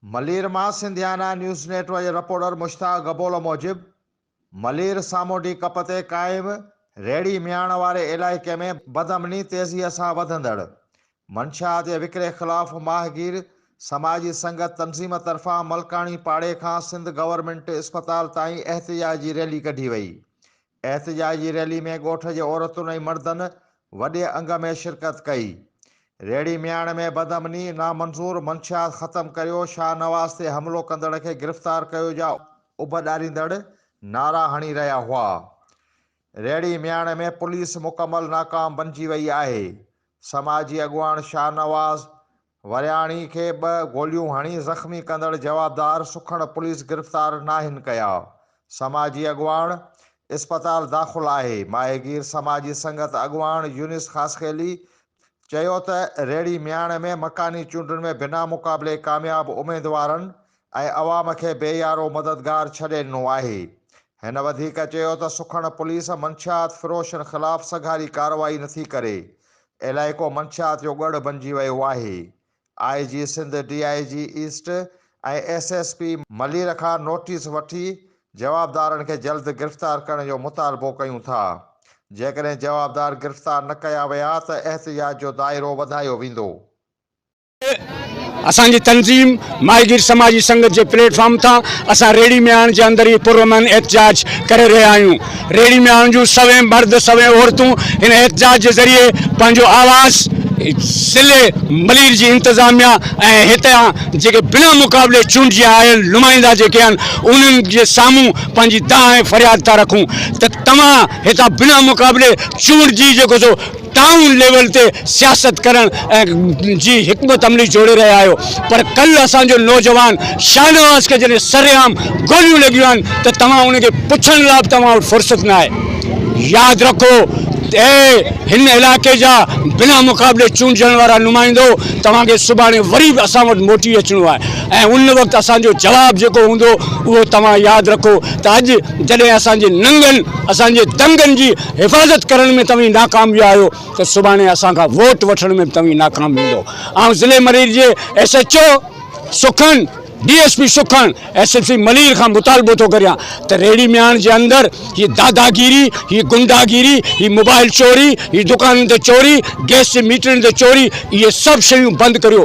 ملير مان Sindhiana news network جي reporter Mushtaq Gabol موجب ملير سامونڊي ڪپ تي قائم ريڙهي مياڻ واري علائقي ۾ بدامني تيزيء سان وڌندڙ منشيات جي وڪري خلاف ماهگير سماجي سنگت تنظيم طرفان ملڪاڻي پاڙي کان سنڌ گورنمينٽ اسپتال تائين احتجاج جي ريلي ڪڍي وئي احتجاج جي ريلي ۾ ڳوٺ جي عورتن ۽ مردن وڏي انگ ۾ شرڪت ڪئي. ريڙهي مياڻ ۾ بدامني نامنظور منشيات ختم ڪريو شاهنواز تي حملو ڪندڙ کي گرفتار ڪيو جا اڀ ڏاريندڙ نعرا هڻي رهيا هئا. ريڙهي مياڻ ۾ پوليس مڪمل ناڪام بنجي وئي آهي. سماجي اڳواڻ شاهنواز ورياڻي کي ٻه گوليون هڻي زخمي ڪندڙ جوابدار سکڻ پوليس گرفتار ناهن ڪيا، سماجي اڳواڻ اسپتال داخل آهي، ماهيگير سماجي سنگت اڳواڻ يونس خاصخيلي چيو ته ريڙهي مياڻ ۾ مڪاني چونڊن ۾ بنا مقابلي ڪامياب اميدوارن ۽ عوام کي بي يارو مددگار ڇڏي ڏنو آهي. هن وڌيڪ چيو ته سکڻ پوليس منشيات فروشن خلاف سگهاري ڪارروائي نٿي ڪري، علائقو منشيات جو ڳڙهه بنجي ويو آهي، I G Sindh, D I G east ۽ S S P Malir کان نوٽيس وٺي جوابدارن کي جلد گرفتار ڪرڻ جو مطالبو ڪيون ٿا، جيڪڏهن جوابدار گرفتار نه ڪيا ويا ته احتجاج جو دائرو وڌايو ويندو. اسان جي تنظيم ماهيگير سماجي سنگت جي پليٽ فارم تان اسان ريڙهي مياڻ جي اندر هي پرامن احتجاج ڪري رهيا آهيون ريڙهي مياڻ جون سوين مرد سوين عورتون هن احتجاج جي ذريعي پنهنجو آواز ضلعي ملير جي انتظاميه ۽ هتان جيڪي بنا مقابلي چونڊجي آيل نمائندا جيڪي آهن انهن جي سامهون پنهنجي دانهن ۽ فرياد ٿا رکون ته توهان هتان بنا مقابلي چونڊجي جيڪو سو ٽائون ليول تي سياست ڪرڻ جي حڪمت عملي جوڙي رهيا آهيو پر ڪلهه اسان جو نوجوان شاهنواز کي جڏهن سرعام گوليون لڳيون آهن ته توهان ان کي پڇڻ لاء به توهان وٽ فرصت ناهي ياد رکو اي هن علائقي جا بنا مقابلي چونڊجڻ وارا نمائندو توهان کي سڀاڻي وري به اسان وٽ موٽي اچڻو آهي ۽ ان وقت اسان جو جواب جيڪو هوندو اهو توهان ياد رکو ته اڄ جڏهن اسان جي ننگن اسان جي دنگن جي حفاظت ڪرڻ ۾ توهين ناڪام ويا آهيو ته سڀاڻي اسان کان ووٽ وٺڻ ۾ به توهين ناڪام ويندو آئون ضلعي مرير جي ايس ايڇ او سکڻ ڊي ايس پي سکڻ ايس ايس پي ملير کان مطالبو ٿو ڪريان ته ريڙهي مياڻ جي اندر هي داداگيري هي گنڊاگيري هي موبائل چوري هي دڪانن تي چوري گيس جي ميٽرن تي چوري اهي سڀ شيون بند ڪريو